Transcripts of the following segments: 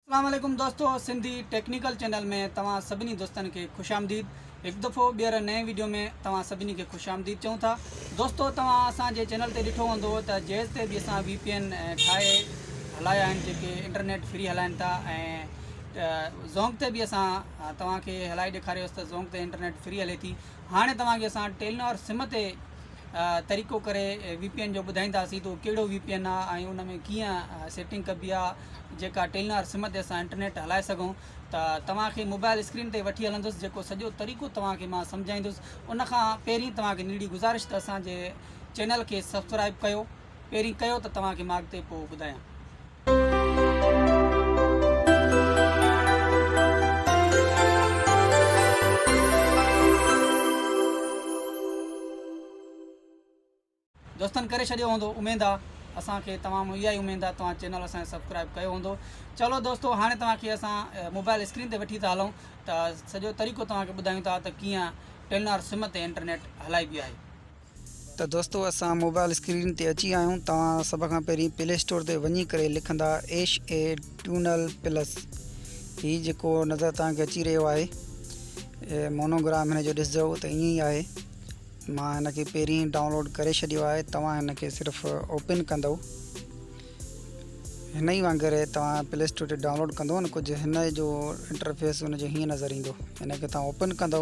اسلام عليڪم دوستو سنڌي ٽيڪنيڪل چينل ۾ توهان سڀني دوستن کي خوش آمديد هڪ دفعو ٻيهر نئين ويڊيو ۾ توهان سڀني کي خوش آمديد چئون ٿا دوستو توهان اسان جي چينل تي ڏٺو هوندو ته جيز تي به اسان وي پي اين ٺاهي هلايا آهن جيڪي انٽرنيٽ فري هلائن ٿا ۽ زونگ تي به اسان توهان کي هلائي ڏيکاريوس ته زونگ تي انٽرنيٽ فري هلي ٿي هاڻي توهان کي اسان ٽيلنار سم تي طريقو ڪري وي پي اين جو ٻڌائينداسين ته اهو ڪهڙو وي پي اين آهي ۽ ان ۾ ڪيئن سيٽنگ ڪبي آهي جيڪا ٽيلنار سم تي اسان انٽرنيٽ هلائي سگهون ته توهان کي موبائل اسڪرين تي وٺي هلندس جيڪو سڄو طريقو توهان کي مان سمجهائيندس ان کان پهرين توهان کي نيڙي گذارش ته اسان جي چينل کي سبسڪرائب ڪيو پهرين ڪيو ته توهان کي مان اڳتي پوء ٻڌايان دوستن ڪري ڇڏيو هوندو اميد آ اسان کي تمام اها ئي اميد آ توهان چينل اسان کي سبسڪرائب ڪيو هوندو چلو دوستو هاڻي توهان کي اسان موبائل اسڪرين تي وٺي ٿا هلون ته سڄو طريقو توهان کي ٻڌايون ٿا ته ڪيئن ٽيلنار سم تي انٽرنيٽ هلائبي آهي ته دوستو اسان موبائل اسڪرين تي اچي آهيون توهان سڀ کان پهرين پلي اسٽور تي وڃي ڪري لکندا ايش اي ٽيونل پلس هي جيڪو نظر توهان کي اچي رهيو آهي مونوگرام هن جو ڏسجو ته ائين ئي آهي مان هن کي پهرين ڊائونلوڊ ڪري ڇڏيو آهي توهان هن کي صرف اوپن ڪندو هن ئي وانگر توهان پلي اسٽور تي ڊائونلوڊ ڪندو ڪجهه هن جو انٽرفيس هن جو هيئن نظر ايندو هن کي توهان اوپن ڪندو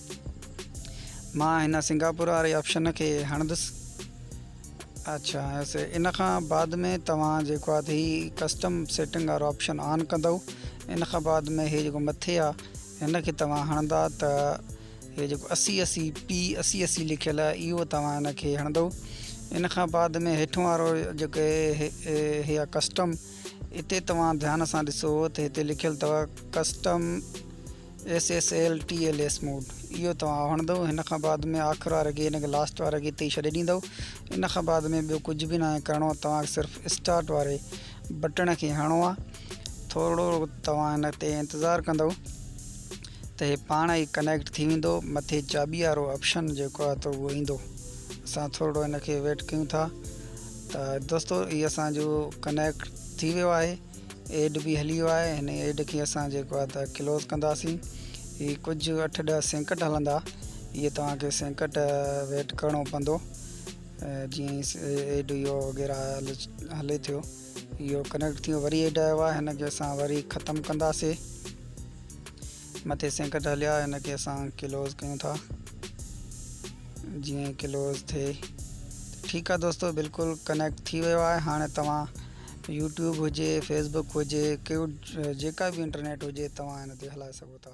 مان هن سنگاپور واري آپشن کي هڻندس اچھا اسي ان کان بعد ۾ توهان جيڪو آهي هي ڪسٽم سيٽنگ وارو آپشن آن ڪندو ان کان بعد ۾ هي جيڪو مٿي آهي هن کي توهان هڻندا ته هي جيڪو اسي اسي پي اسي اسي لکيل آهي اهو توهان هن کي هڻندو ان کان بعد ۾ هيٺون وارو جيڪو هي آهي ڪسٽم اتي توهان ڌيان سان ڏسو ته هتي لکيل اٿو ڪسٽم SSL TLS موڊ اهو توهان هڻندؤ هن کان بعد ۾ آخر واري گين کي لاسٽ واري گين تي ئي ڇڏي ڏيندؤ ان کان بعد ۾ ٻيو ڪجهه به ناهي ڪرڻو آهي توهان کي صرف اسٽارٽ واري بٽڻ کي هڻو آهي ٿورڙو توهان هن تي انتظار ڪندؤ ته هي پاڻ ئي ڪنيڪٽ ٿي ويندو مٿي چاٻي وارو آپشن جيڪو آهي ته اهو ايندو اسان ٿورڙو هن کي ويٽ ڪيون ٿا ته دوستو هي اسان جو ڪنيڪٽ ٿي ويو آهي ايڊ به هلي ويو آهي هن ايڊ کي اسان جيڪو آهي ته ڪلوز ڪنداسين هي ڪجهه اٺ ڏهه سينڪٽ هلندا اهي توهان کي سينڪٽ ويٽ ڪرڻو پوندو جيئن ايڊ اهو وغيرہ هلي ٿيو اهو ڪنيڪٽ ٿيو وري ايڊ آيو آهي هن کي اسان وري ختم ڪنداسي مٿي سينڪٽ هليا هن کي اسان ڪلوز ڪيون ٿا جيئن ڪلوز ٿئي ٺيڪ آ دوستو بلڪل ڪنيڪٽ ٿي ويو آهي هاڻي توهان يوٽيوب هجي فيسبوڪ هجي ڪيو جيڪا به انٽرنيٽ هجي توهان هن تي هلائي سگهو ٿا